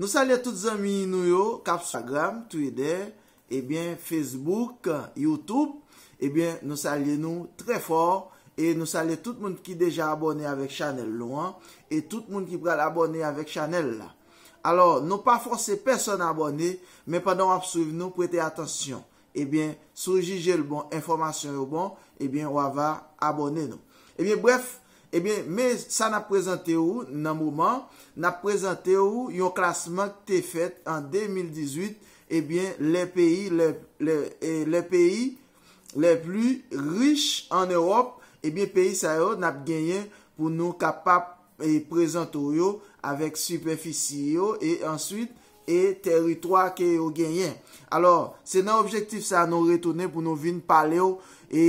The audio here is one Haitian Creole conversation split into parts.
Nou salye tout zanmi nou yo kap sou Instagram, Twitter, ebyen Facebook, YouTube, ebyen nou salye nou trè fò e nou salye tout moun ki deja abòne avèk chanèl nou an e tout moun ki pral abòne avèk chanèl la. Alò, nou pa fòse pèsòn abòne, men pandan wap swiv nou prete atansyon, Ebyen si w jije l bon enfòmasyon yo bon ebyen wa va abòne nou. Ebyen brèf ebyen men sa nap prezante ou nan moman nap prezante ou yon klasman k te fèt an 2018 ebyen lè peyi lè lè peyi lè pli rich an Ewòp ebyen peyi sa yo nap genyen pou nou kapap prezante w yo avèk sipèfisi yo e answit e tèritwa ke yo genyen. Alò, se nan objektif sa nou retounen pou nou vin pale w e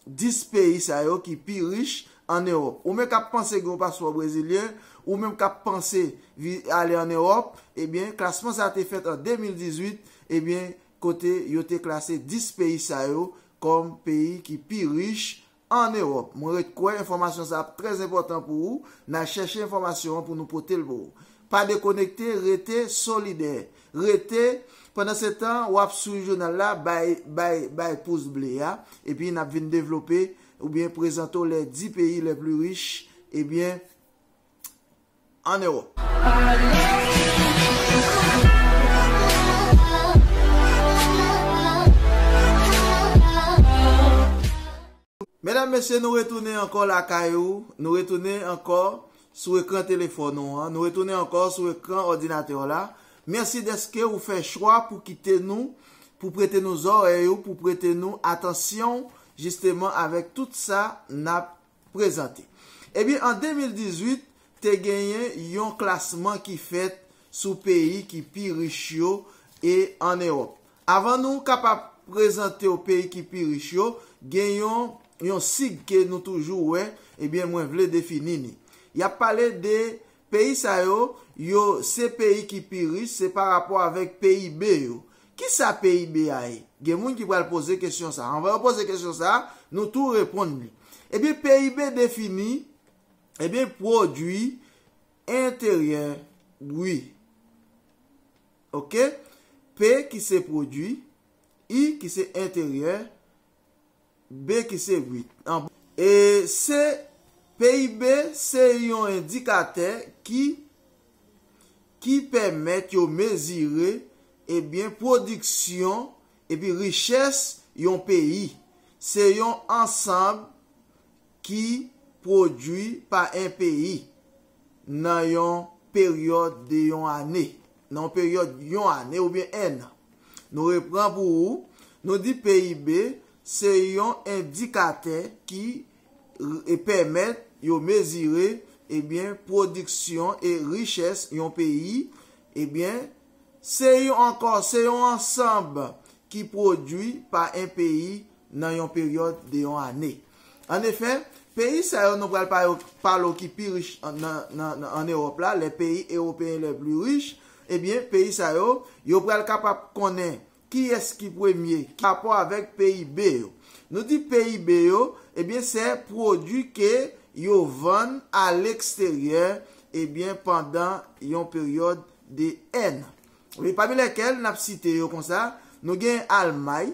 10 peyi sa yo ki pi rich an Ewòp. Ou menm kap panse gen yon paspò brezilyen, ou menm kap panse ale an Ewòp, ebyen klasman sa te fèt an 2018, ebyen kote yo te klase 10 peyi sa yo kòm peyi ki pi rich an Ewòp. Mwen ret kwè enfòmasyon sa ap trè enpòtan pou ou, nan chèche enfòmasyon an pou nou pote l pou ou. Pa dekonekte, rete solidè. Rete, pandansetan, w ap swiv jounal la, bay, bay, bay pous ble a, epi n ap vin devlope, oubyen prezante w les 10 pays les plus riches, ebyen, an Ewòp. Medam mesye nou retounen ankò lakay ou, nou retounen ankò sou ekran telefòn ou an, nou retounen ankò sou ekran òdinatè w la. Mèsi dèske ou fè chwa pou kite nou, pou prete nou zòrèy ou, pou prete nou atansyon w jisteman avèk tout sa n ap prezante. Ebyen an 2018, te genyen yon klasman ki fèt sou peyi ki pi rich yo e an Ewòp. Avan nou kapab prezante w peyi ki pi rich yo, gen yon yon sig ke nou toujou wè, ebyen mwen vle defini ni. Y ap pale de Peyi sa yo, yo se peyi ki pi rich, se pa rapò avèk PIB yo. Ki sa PIB a ye? Gen moun ki pral poze kesyon sa a. Anvan yo poze kesyon sa a, nou tou reponn li. Ebyen, PIB defini, ebyen, pwodui enteryè bri. Ok? P ki se pwodui, I ki se enteryè. B ki se 8 nan. E C. PIB se yon endikatè ki ki pèmèt yo mezire e byen pwodiksyon epi richès yon peyi. Se yon ansanb ki pwodui pa 1 peyi nan yon peryòd de yon ane, nan yon peryòd yon ane oubyen 1 an. Nou repran pou ou, nou di PIB se yon endikatè ki pèmèt yo mezire ebyen pwodiksyon e richès yon peyi, ebyen se yon ankò, se yon ansanb ki pwodui pa 1 peyi nan yon peryòd de yon ane. An efè, peyi sa yo nou pral pa yo palo ki pi rich an Ewòp la, les pays européens les plus riches, ebyen peyi sa yo, yo pral kapab konnen kiyès ki premye ki parapò avèk PIB yo. Nou di PIB yo, ebyen se pwodui ke yo vann a leksteryè ebyen pandan yon peryòd de 1 an. Pami lèkèl n ap site yo konsa, nou gen Almay,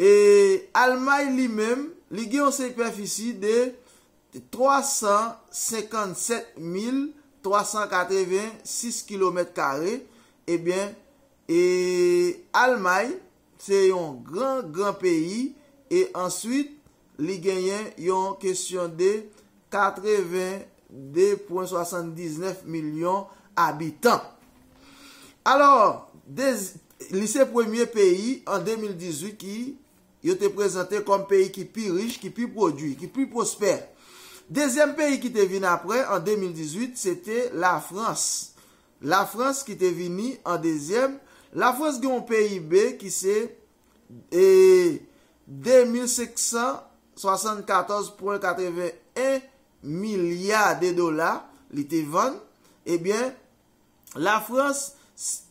E Almay li menm, li gen yon sipèfisi de 357 mil 386 kilomèt kare, ebyen e Almay se yon gran gran peyi e answit Li genyen yon kesyon de 82,79 milyon abitan. Alò, li se premye peyi an 2018 ki yo te prezante kòm peyi ki pi rich, ki pi pwodui, ki pi pwospè. Dezyèm peyi ki te vin apre an 2018 se te Lafrans. Lafrans ki te vini an dezyèm. Lafrans gen yon PIB ki se. e 2574,81 milya de dola li te vann, ebyen Lafrans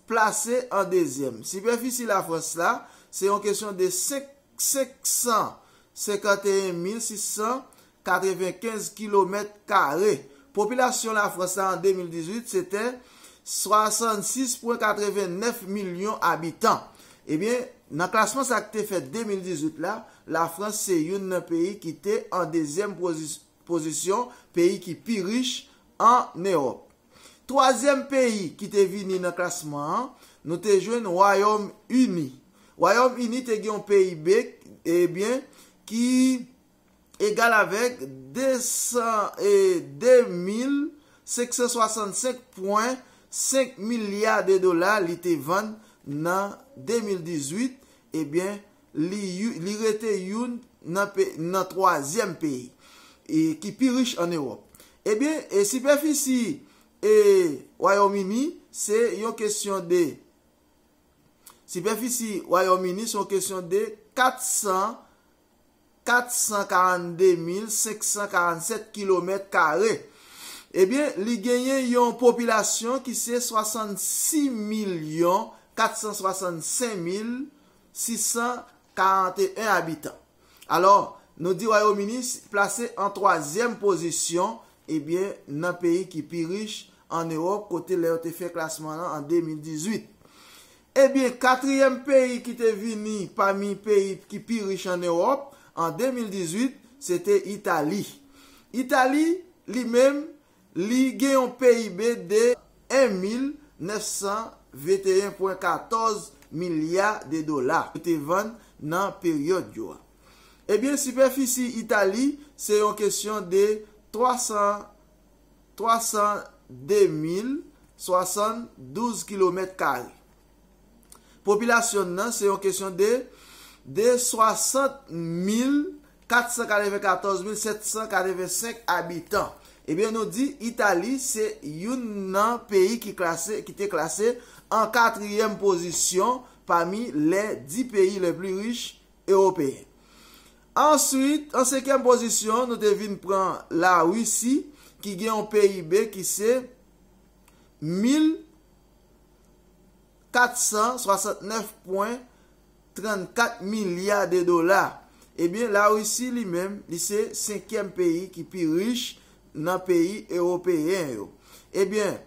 plase an dezyèm. Sipèfisi Lafrans la, se yon kesyon de 551,600 95 kilomèt kare. Popilasyon Lafrans la an 2018 se te 66,89 milyon abitan. Ebyen, nan klasman sa ki te fèt 2018 la, Lafrans se youn nan peyi ki te an dezyèm pozisyon peyi ki pi rich an Ewòp. Twazyèm peyi ki te vini nan klasman an, nou te jwenn Wayòm Ini. Wayòm Ini te gen yon PIB, ebyen, ki. egal avèk 202,565 pwen 5 milya de dola li te vann nan 2018, ebyen li rete youn nan twazyèm peyi ki pi rich an Ewòp. Ebyen, sipèfisi Wayòm Ini se yon kesyon de sipèfisi Wayòm Ini se yon kesyon de 400. 442547 kilomèt kare. Ebyen, li genyen yon popilasyon ki se 66465641 abitan. Alò, nou di Wayomini plase an twazyèm pozisyon, ebyen, nan peyi ki pi rich an Ewòp, kote lè yo te fè klasman lan an 2018. Ebyen, katriyèm peyi ki te vini pami peyi ki pi rich an Ewòp an 2018, se te Itali. Itali, li menm, li gen yon PIB de 1,921,14 milya de dola, yo te vann nan peryòd yo a. Ebyen, sipèfisi Itali, se yon kesyon de 300. 302,072 kilomèt kare. Popilasyon n nan se yon kesyon de de 60,494,785 abitan. Ebyen nou di Itali se youn nan peyi ki klase, ki te klase an katriyèm pozisyon pami lè di peyi lè pli rich ewopeyen. Answit, an senkyèm pozisyon, nou te vin pran La Risi ki gen yon PIB ki se 1,469,34 milya de dola. Ebyen, La Risi li menm, li se senkyèm peyi ki pi rich nan peyi ewopeyen yo. Ebyen,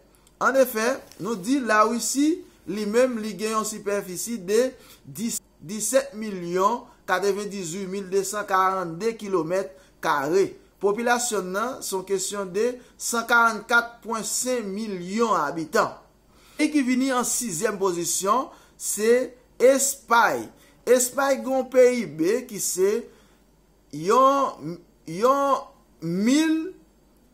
an efè, nou di La Risi li menm li gen yon sipèfisi de 17. 17 milyon 98 mil 242 kilomèt kare. Popilasyon n nan se yon kesyon de 144 pwen 5 milyon abitan. Peyi ki vini an sizyèm pozisyon se Espay. Espay gen yon PIB ki se yon yon mil.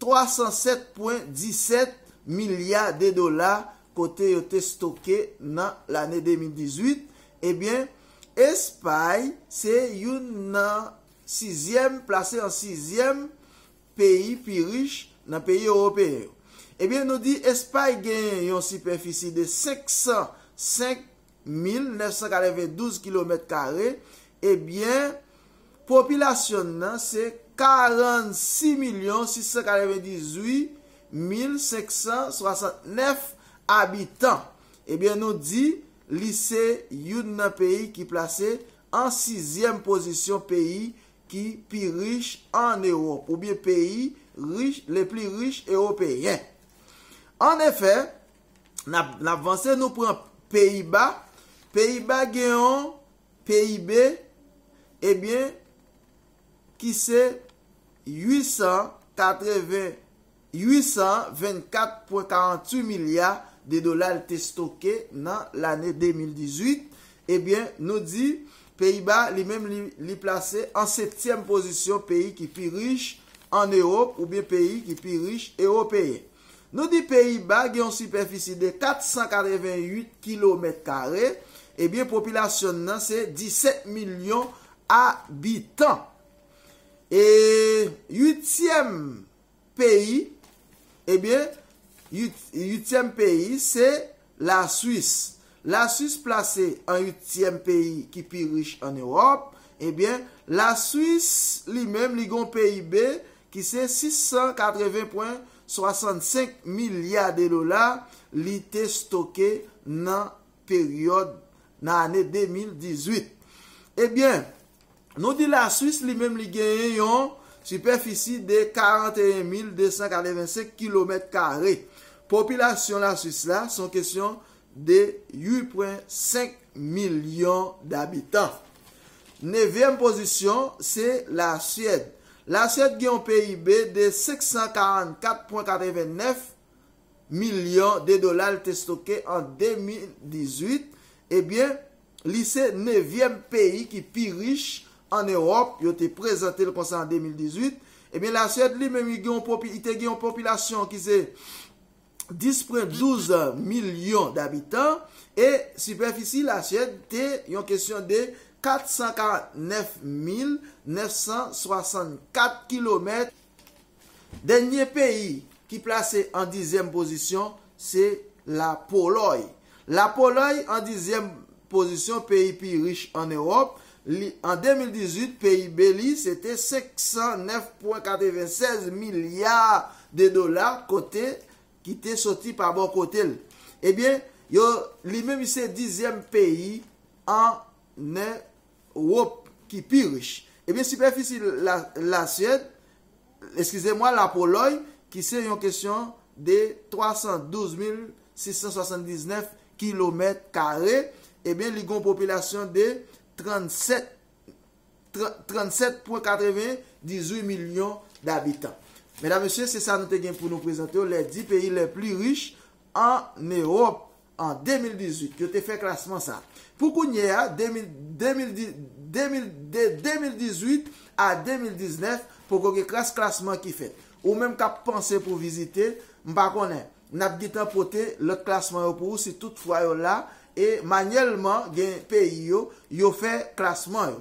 307 pwen 17 milya de dola kote yo te stoke nan lane 2018, ebyen Espay se youn nan sizyèm, plase an sizyèm peyi pi rich nan peyi ewopeyen yo. Ebyen nou di Espay genyen yon sipèfisi de 505 1.992 kilomèt kare, ebyen, popilasyon n nan se 46.698.569 abitan. Ebyen, nou di, li se youn nan peyi ki plase an sizyèm pozisyon peyi ki pi rich ann Ewòp, oubyen peyi rich, le pli rich ewopeyen. An efè, Nap vanse nou pran Peyiba, Peyiba gen yon PIB ebyen ki se 824.48 milya de dola li te stoke nan lane 2018, ebyen nou di Peyiba li menm li plase an septyèm pozisyon peyi ki pi rich an Ewop oubyen peyi ki pi rich Ewopeyen. Nou di Peyi Ba gen yon sipèfisi de 488 kilomèt kare, ebyen popilasyon n nan se 17 milyon abitan. E uityèm peyi, ebyen uityèm peyi se Laswis Laswis plase an uityèm peyi ki pi rich an Ewòp. Ebyen, Laswis li menm li gen yon PIB ki se 680 pwen 65 milya de dola li te stoke nan peryòd nan ane 2018. Ebyen. Nou di Laswis li menm li genyen yon sipèfisi de 41,285 kilomèt kare. Popilasyon Laswis la se yon kesyon de 8,5 milyon dabitan. Nevyèm pozisyon se Lasyèd. Lasyèd gen yon PIB de 544,89 milyon de dola li te stoke an 2018, ebyen, Li se nevyèm peyi ki pi rich an Ewòp, yo te prezante l konsa an 2018. Ebyen Lasuèd li menm li gen yon popi, li te gen yon popilasyon ki se 10.12 milyon dabitan e sipèfisi Lasuèd te yon kesyon de 449.964 kilomèt Dènye peyi ki plase an dizyèm pozisyon se La Polòy. La Polòy an dizyèm pozisyon peyi pi rich an Ewòp. Li an 2018 PIB li se te 509,96 milya de dola kote ki te soti pa bò kote l. Ebyen yo li menm li se dizyèm peyi an Rop ki pi rich. Ebyen sipèfisi la Lasyèd, eskize mwa la Polòy ki se yon kesyon de 312679 kilomèt kare, ebyen li gon popilasyon de 37 37.98 milyon dabitan. Medam mesye se sa nou te gen pou nou prezante w lè di peyi lè pli rich an Ewòp. An 2018, yo te fè klasman sa. Pou kounye a, de 2018 a 2019, poko gen kras klasman ki fèt. Ou menm k ap panse pou vizite, m pa konnen, n ap gentan pote lòt klasman yo pou ou si tout fwa yo la e manyèlman gen peyi yo, yo fè klasman yo.